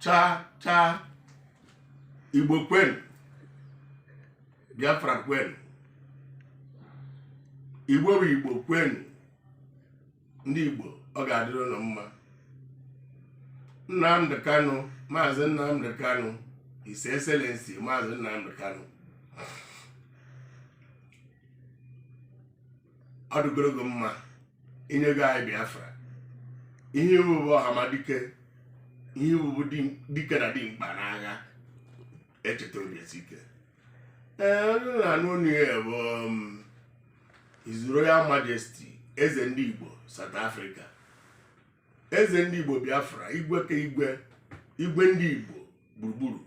chaa chaa igbo kwenu biafra kwenu igbo bụ igbo kwenu ndị igbo ọ ga-adịrị unu mma nnamdị kanụ maazị nnamdị kanụ His Excellency maazị nnamdị kanụ ọ dịgoro gị mma i nyego anyị biafra ihe i wu bụ ọhamadike ihe i wu bụ di- dike na dimkpa n'agha e cheta obi esie ike ee onye na-anụ onu ya bụ um, His Royal Majesty eze ndị Igbo South Africa eze ndị Igbo Biafra igwe ka igwe igwe ndị Igbo gburugburu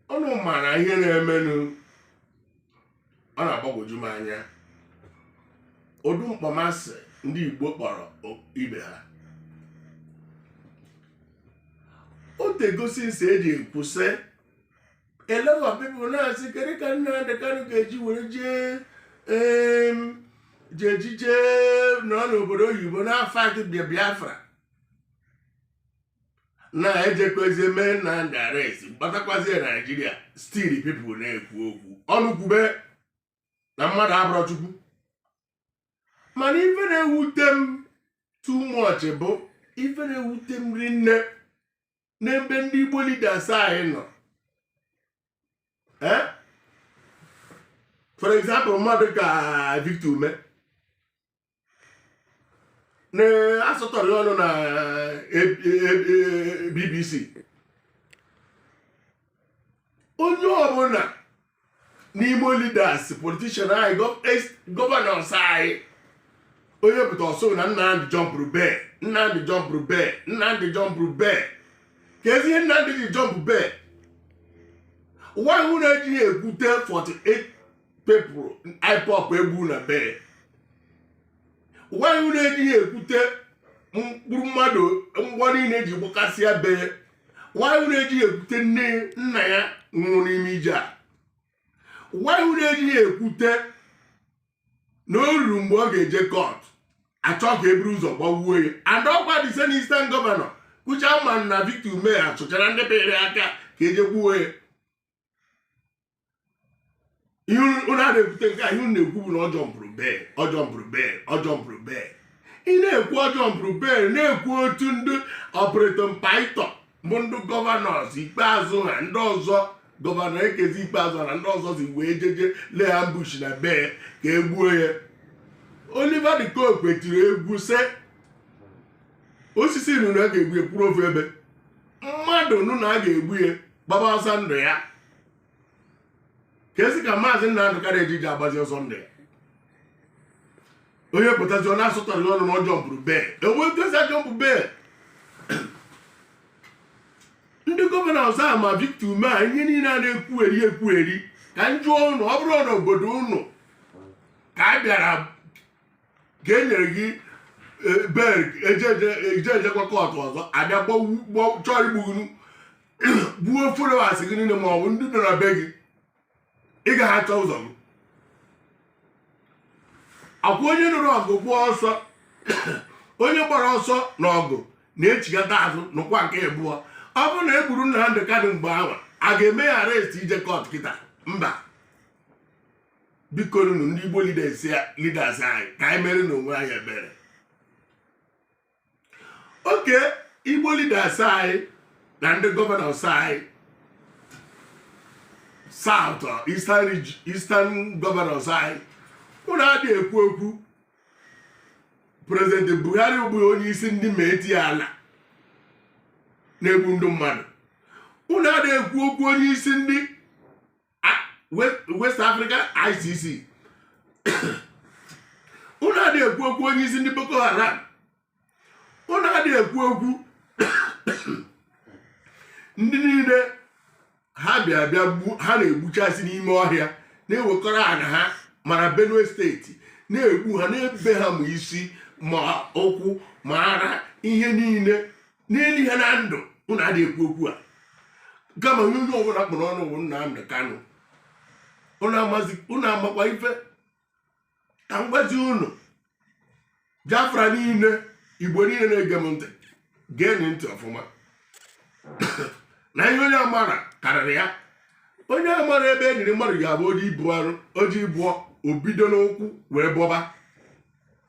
unu mara ihe na-emenụ ọ na-agbagwoju m anya ụdị mkpọmasị ndị Igbo kpọrọ ibe ha o tego since eji ekwu several people na-asị kedu ka nna Nnamdi Kanu ga-eji were jee ji ejije nọ n'obodo oyibo na-afight Biafra na ejekwezie mee Nnamdi arrest gbatakwazie Naijiria still people na-ekwu okwu ọnụ kwube na mmadụ abụrọ Chukwu mana ife na-ewute m too much bụ ife na-ewute m rinne n'ebe ndị Igbo leaders anyị nọ eh? for example mmadụ ka Victor Umeh na-asọtọrị ọnụ na BBC onye ọbụla n'ime leaders politician anyị governors anyị onye pụta ọ sị na Nnamdi jumpụrụ bail Nnamdi jumpụrụ bail Nnamdi jumpụrụ bail kezi ihe Nnamdi ji jump bail why unu ejighị ekwute 48 people IPOB e gbu na be ya why unu ejighị ekwute mkpụrụ mmadụ mgbọ niile eji gbakasịa be ya why unu ejighị ekwute nne nna ya nwụrụ n'ime ije a why unu ejighị ekwute na o ruru mgbe ọ ga-eje court a chọọ ka e buru ụzọ gbawuo ya and ọkwa the same eastern governor kụcha ma na Victor Umeh achụchara ndị bere aka ka e jee gbuo ya ihe unu a na-ebute nke a ihe unu na-ekwu bụ na ọ jumpụrụ bail ọ jumpụrụ bail ọ jumpụrụ bail ị na-ekwu ọ jumpụrụ bail na-ekwu otu ndị Operation Python bụ ndị gọvanọs Ikpeazu ha ndị ọzọ gọvanọ Okezie Ikpeazu ha na ndị ọzọ si wee jeje lay ambush na be ya ka e gbuo ya Oliver de Coque tiri egwu sị osisi nụ na a ga-egbu ya kwụrụ ofu ebe mmadụ nụ na a ga-egbu ya gbaba ọsọ ndụ ya ka esi ka maazị Nnamdi Kanu jiji agbazi ọsọ ndụ ya onye pụtazi ọ na-asụtara n'ọnụ na ọ jumpụrụ bail e nwe etu e si ajump bail ndị gọvanọ ọzọ a ma Victor Umeh a ihe niile a na-ekwugheri ekwugheri ka m jụọ ụnụ ọ bụrụ na obodo ụnụ ka a bịara ka e nyere gị eh, bail e jejekwa kọtụ ọzọ a bịa chọọ igbu gị gbuo followers gị niile ma ọ bụ ndị nọ na be gị ị gaghị achọ ụzọ gị ọ kwa onye nụrụ ọgụ kwụọ ọsọ onye gbara ọsọ na ọgụ na-echigata azụ n'ọkwa nke abụọ ọ bụrụ na e gburu Nnamdi Kanu mgbe ahụ a ga-eme ya arrest ije kọt kịta mba bikonụ nụ ndị Igbo leaders anyị ka anyị mere na onwe anyị ebere okay Igbo leaders anyị na ndị gọvanọs anyị south uh, eastern eastern governors anyị ụnụ adị ekwu okwu prezident Buhari bụ onye isi ndị Miyetti Allah na-egbu ndị mmadụ ụnụ adị ekwu okwu onye isi ndị West Africa ISIS ụnụ adị ekwu okwu onye isi ndị Boko Haram ụnụ adị ekwu okwu ndị niile ha bịa bịa ha na-egbuchasị n'ime ọhịa na-ewekọrọ ana ha mara Benue steeti na-egbu ha na-ebe ha ma isi ma ụkwụ ma ara ihe niile na-eli ha na ndụ ụnụ adị ekwu okwu a kama onye onye ọbụla kpọrọ ọnụ bụ Nnamdi Kanu ụnụ amakwa ife ka m gwazi ụnụ Biafra niile Igbo niile na-ege m ntị geenụ ntị ọfụma na ihe onye amarọ karịrị ya onye amarọ ebe e liri mmadụ ga-abụ o je ibọ arụ o je ibọ o bido n'ụkwụ wee bọba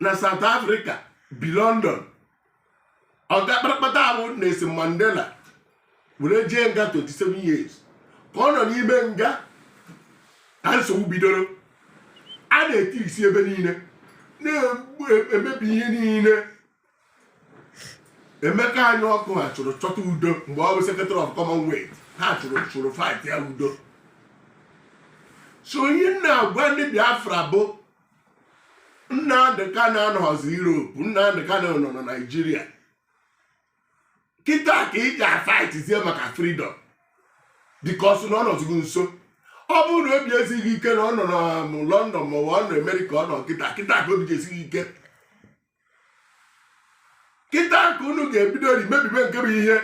na South Africa bi London ọga kparakpata ahụ Nelson Mandela were jee nga 27 years ka ọ nọ n'ime nga ka nsogbu bidoro a na-eti isi ebe niile na-emebi ihe niile emeka anyaoku ha chụrụ chọta udo mgbe ọ bụ secretary of commonwealth ha chụrụ chụrụ fight ya udo so ihe m na-agwa ndị biafra bụ nnamdị kanụ anọghịzi europe nnamdị kanụ nọ na naijiria kịta ka ị ga-afaitizie maka freedom because na ọ nọzigo nso ọ bụrụ na obi esighị ike na ọ nọ na um, london maọbụ ọ nọ amerịka ọ nọ kịta kịta ka obi ga-esi gị ike kịta ka unu ga-ebidori mebibe nke bụ ihe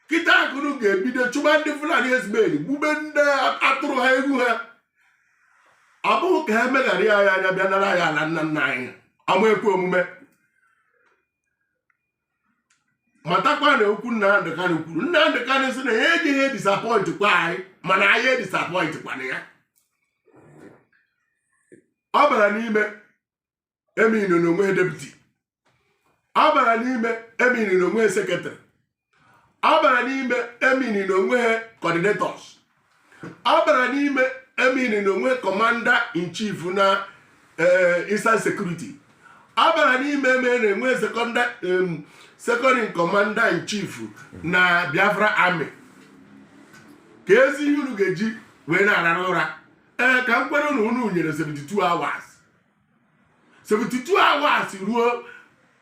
kịta ka unu ga-ebido chụba ndị fulani ezumeli gbube ndị atụrụ ha egwu ha ọ bụghị ka ha meghara anyị anya bịa nara anyị ala nna nna anyị ama ekwe omume matakwa na okwu Nnamdị Kanụ kwuru Nnamdị Kanụ sị na ya ejighị edisapọịntị kwa anyị mana anyị edisapọịntị kwana ya ọ bara n'ime emean na o nweghị deputy abara n'ime emean na o nweghị secretary abara n'ime emean na o nweghị coordinators abara n'ime emean na o nweghị commander in chief na eh, eastern security abara n'ime emean na o nweghị second in commander in chief na biafra army kedụzi ihe unu ga-eji wee na-arara ụra ee ka m kwere na unu nyere 72 hours 72 hours ruo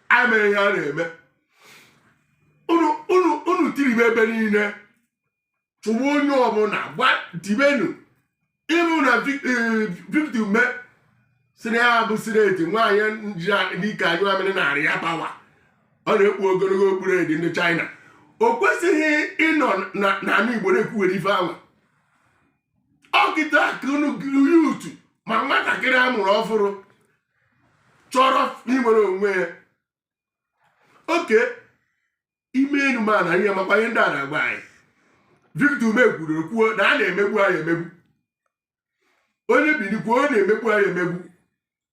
a ma ihe a na-eme unu tiribe ebe niile chụwa onye ọbụla gwa dibenu even victor ume sị na ya bụ sineti nwaanyị ji ike anyụ amịrị nara ya power ọ na-ekpu ogologo okpu red ndị China o kwesịghị ịnọ na ama Igbo na-ekwuwere ife anwa ọ kịta ka unu youth ma nwatakịrị a mụrụ ọhụrụ chọrọ inwere onwe ya oke ime enu mana anyị amakwa ihe ndị a na-agwa anyị Victor Ume kwuru kwuo na a na-emegbu anyị emegbu onye binie kwuo ọ na-emegbu anyị emegbu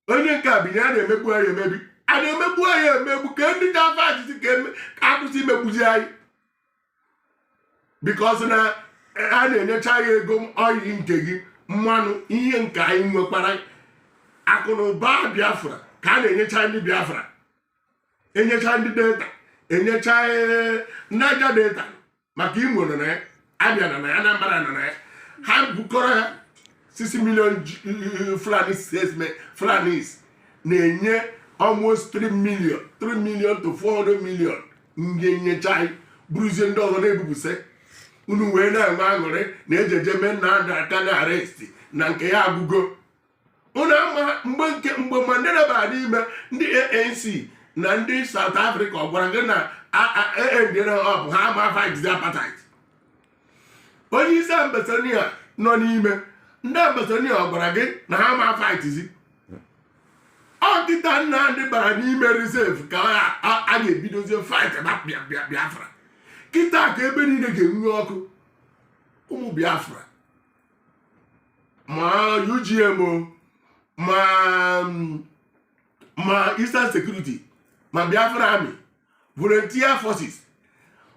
onye nke a binye a na-emegbu anyị emebi a na-emegbu anyị emegbu ka ndị ga-afaitizi ka eme- ka a kwụsị imegbuzi anyị because na a na-enyecha anyị ego oil nke gị mmanụ ihe nke anyị nwekwara akụ na ụba biafra ka a na-enyecha ndị biafra enyecha ndị delta enyecha eh, niger delta maka imo nọ na ya abịa nọ na ya anambra nọ na ya ha bukọrọ ya 6 million fulani statement fulanis na-enye almost 3 million 3 million to 400 million ndị nyecha anyị buruzie ndị ọzọ na-ebupụsị unu wee na-enwe aṅụrị na ejeje mee nnamdị kanụ arrest na nke ya agwụgo unu ama mgbe nke mgbe mandela bara n'ime ndị anc na ndị south africa ọ gwara gị na aendere ha ọbụ ha ama fight apartheid onye isi ambazonia nọ n'ime ndị ambazonia ọ gwara gị na ha ama fightzi ọ kịta nnamdị bara n'ime reserve ka a ga-ebidozie fight na biafra kịta ka ebe niile ga-enwu ọkụ ụmụ biafra ma UGM ma ma Eastern Security ma Biafra Army volunteer forces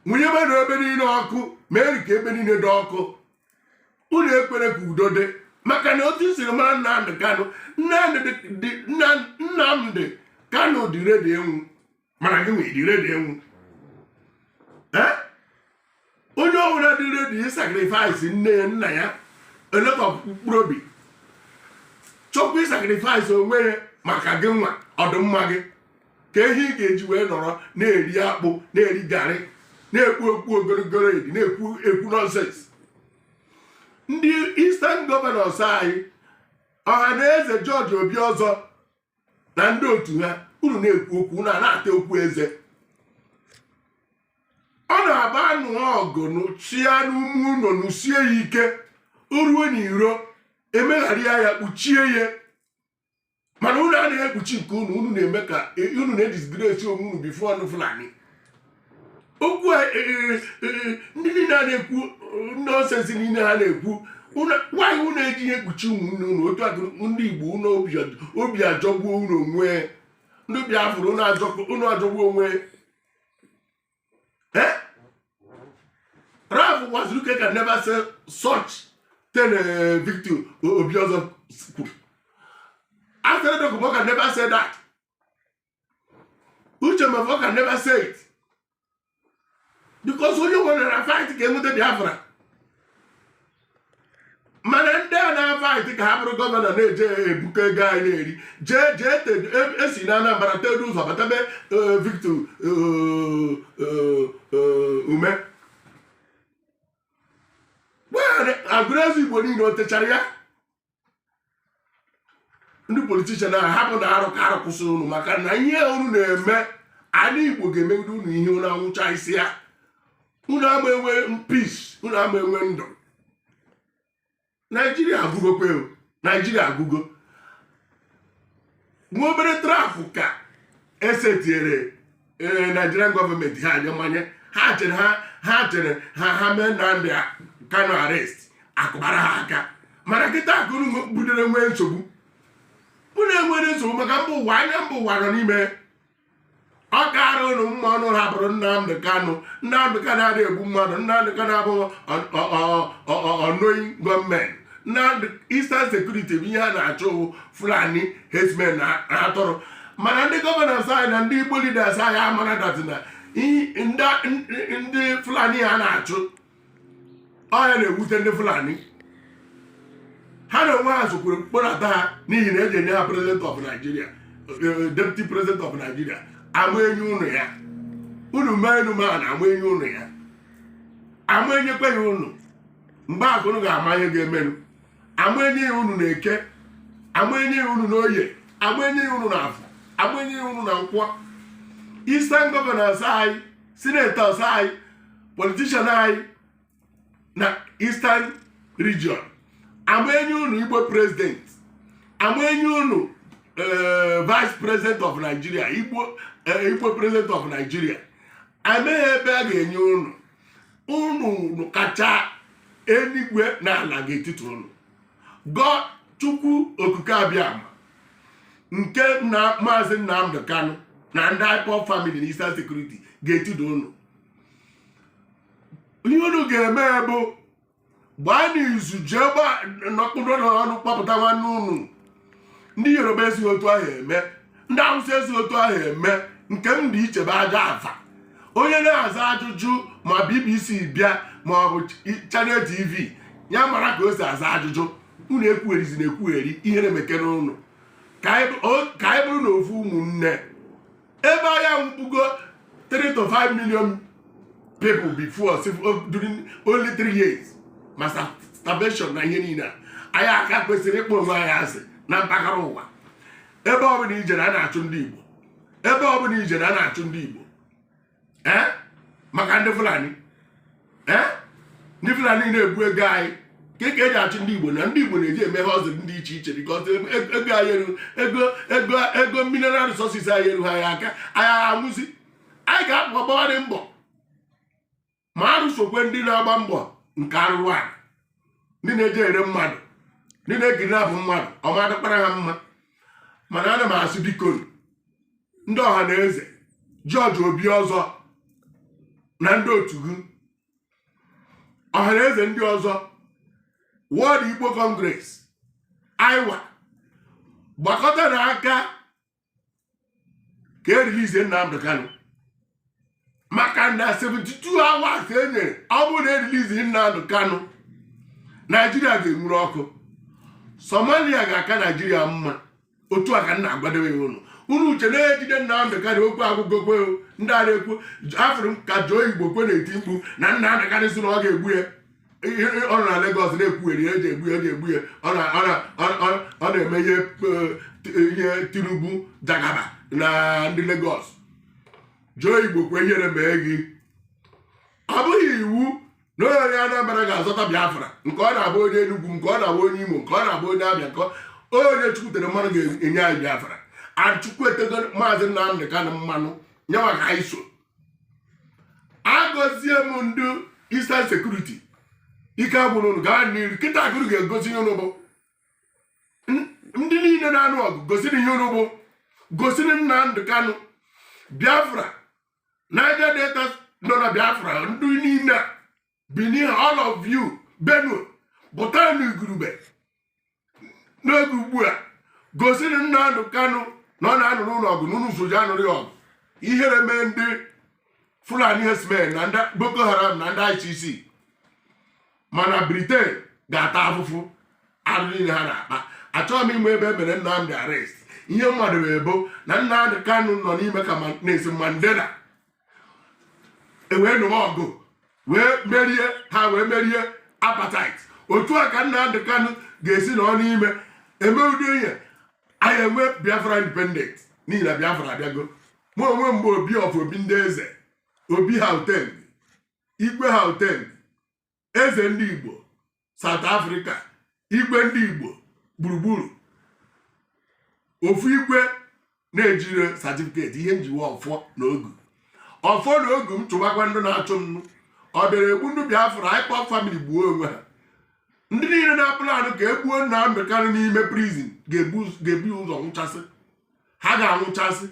nwunyewenụ ebe niile ọkụ ma eri ka ebe niile dị ọkụ unu ekwere ka udo dị maka na otu siri mara Nnamdị Kanụ Nnamdị Kanụ dị redi ịnwụ mana gị nwere redi ịnwụ onye ọbụla dị redi ịsakrifais nne ya nna ya eleta mkpụrụ obi chọkwa ịsakrifais onwe ya maka gị nwa ọdịmma gị ka ihe ị ga-eji wee nọrọ na-eri akpụ na-eri garị na-ekwu okwu ogologo edi na-ekwu okwu nọnsens ndị eastern gọvanọs anyị ọhanaeze jọji obiọzọ na ndị otu ha unu na-ekwu okwu unu ana-ata okwu eze ọ na-abụ a nụọ ọgụ nụsịa n'ime ụlọ nụsie ya ike o ruo n'iro emegharịa ya kpuchie ya mana unu anaghị ekpuchi nke unu unu na-eme ka unu na-edisgresi onwe unu bifo ndị fulani okwu e, e, e, ndị niile a na-ekwu nọnsensị niile ha na-ekwu why unu ejighị ekpuchi ụmụnne unu otu aka ndị igbo unu obi ajọgbuo unu onwe ndị obi afụrụ unu ajọgbuo onwe ralph uwazuruike can never say such thing victor obiọzọ kwuru asari dokubo can never say that uche mefor can never say it because onye nwere na fight ka e nweta biafra mana ndị a na-afaịtị ka ha bụrụ gọvanọ na-eje ebukọ ego anyị na-eri jee jee esi e na anambra tedu ụzọ bata be e, victor e, umeh aguluzigbo niile o techara ya ndị politishan ahụ ha bụ na arụ ka arụ kwụsịrị unu maka na ihe unu na-eme ala igbo ga-emegide unu ihe unu anwụchasịa unu ama enwe peace unu ama enwe ndụ naijiria agụgokwe naijiria agụgo nwa obere trapụ ka esetiere ee nigerian gọọmenti ha anya mmanye ha chere ha ha chere ha ha mee Nnamdi Kanu arrest akụbara ha aka mana kịta ka unu bidoro nwee nsogbu unu enwere nsogbu maka mba ụwa anya mba ụwa nọ n'ime ọ kaara ụnụ mma ụnụ hapụrụ Nnamdị Kanụ Nnamdị Kanụ adịghị egbu mmadụ Nnamdị Kanụ abụghị unknown gunmen na Eastern Security bụ ihe a na-achụ Fulani herdsmen na atụrụ mana ndị gọvanọ anyị na ndị Igbo leaders anyị amara that na ndị Fulani ha na-achụ ọ ya na-ewute ndị fulani ha na onwe ha sokwuru mkpọnata ha n'ihi na eji enye ha president of Nigeria eh, deputy president of Nigeria ama enye ụnụ ya unu mee enu mee ana ama enye ụnụ ya ama enyekwa ya ụnụ mgbe a ka unu ga-ama ihe ga-emenụ ama enye ya ụnụ na eke ama enye ya ụnụ na oye ama enye ya ụnụ na afọ ama enye ya ụnụ na nkwọ Eastern governors anyị sinetọs anyị politishan anyị na eastern region ama enye unu igbo president ama enye unu eh, vice president of nigeria igbo eh, igbo president of nigeria amaghị ebe a ga-enye unu unu kacha eluigwe na ala ga-etitu unu gọ chukwu okike abịama nke maazị Nnamdi Kanu na ndị IPOB famili na Eastern Security ga-etitu ụnụ ihe unu ga-eme bụ gbaa n'izu jee nọkpụrụ n'ọnụ kpọpụta nwanne unu ndị yoruba ezighị otu ahụ eme ndị awụsa ezighị otu ahụ eme nke m dị iche bụ aja aza onye na-aza ajụjụ ma bbc bịa ma ọ bụ chanel tv ya mara ka o si aza ajụjụ unu ekwugherizina ekwugheri ihe na-emekere ụnụ ka anyị bụrụ na ofu ụmụnne ebe anyị anwụgo 3 to 5 million people before oh, during only 3 years ma starvation na ihe niile a anyị aka kwesịrị ịkpọ onwe anyị asị na mpaghara ụwa ebe ọbụla i jere a na-achụ ndị Igbo ebe ọbụla i jere a na-achụ ndị Igbo ee maka ndị fulani ee ndị fulani na-ebu ego anyị ka ka eji achụ ndị igbo na ndị igbo na-eji eme ihe ọzọ dị iche iche bikọs ego anyị eru ego ego ego mineral resources anyị eruha anyị aka anyị ahụzi anyị ga-apụ ọgbawara mbọ ma arụsokwe ndị na-agba mbọ nke arụrụ ala ndị na-eje ere mmadụ ndị na-egiri abụ mmadụ ọ ma adịkwara ha mma mana ana m asị biko ndị Ọhanaeze George Obiozor na ndị otu gị Ọhanaeze ndị ọzọ World Igbo Congress IWA gbakọtanụ aka ka e rilizie Nnamdi Kanu maka na 72 hours e nyere ọ bụrụ na erilizighị Nnamdi Kanu Naijiria ga-enwuru ọkụ Somalia ga-aka Naijiria mma otu a ka m na-agwadowe unu unu chee na e jide Nnamdị Kanụ okwu agwụgokwa ndị a na-ekwu afụrụ m ka Joe Igbokwe na-eti mkpu na Nnamdị Kanụ sị na ọ ga-egbu ya ọ nọ na Lagos na-ekwugheri eji egbu ya eji egbu ya ọ na-eme ihe e, Tinubu Jagaban na ndị Lagos Joe Igbokwe ihere mee gị ọ bụghị iwu na onye Anambra ga-azọta Biafra nke ọ na-abụ onye Enugu nke ọ na-abụ onye Imo nke ọ na-abụ onye Abịa onye Chukwu tere mmanụ ga-enye anyị Biafra and Chukwu etego maazị Nnamdị Kanụ mmanụ ya nwa ka anyị so agọzie m ndị Eastern Security ike agwụna unu gaa n'iru kịta ka unu ga-egosi ihe unu bụ ndị niile na-anụ ọgụ gosinụ ihe unu bụ gosinụ Nnamdi Kanu Biafra Niger Delta nọ na Biafra ndị niile a bini all of you benue pụta n'igurube n'oge ugbu a gosinụ nnamdị kanụ na ọ na-anụrụ unu ọgụ na unu so je anụrụ ya ọgụ ihere mee ndị fulani herdsmen na ndị boko haram na ndị icc mana Britain ga-ata afụfụ arụ niile ha na-akpa achọghị m ịma ebe e mere nnamdị arrest ihe m madowe bụ na nnamdị kanụ nọ n'ime ka Nelson Mandela ewee nụwa ọgụ wee merie ha wee merie apartheid otu a ka Nnamdi Kanu ga-esi nọ n'ime eme ụdị ihe anyị enwe Biafra independent n'ihi na Biafra abịago mụ onwe m bụ obi of obi ndị eze obi ha hotel igwe ha hotel eze ndị igbo South Africa igwe ndị igbo gburugburu ofu igwe na-ejirọ certificate ihe m ji bụ ọfọ na ogu ọfọ na ogu m chụbakwa ndị na-achụ m ọ bịara egbu ndị Biafra na IPOB family gbuo onwe ha ndị niile na-aplan ka e gbuo Nnamdị Kanụ n'ime prison ga-ebu ụzọ nwụchasị ha ga-anwụchasị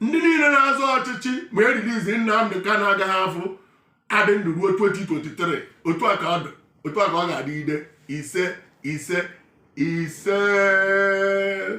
ndị niile na-azọ ọchịchị ma erilizighị Nnamdị Kanụ agaghị afụ adị ndụ ruo 2023 otu a ka ọ dị otu a ka ọ ga-adịgide isee isee isee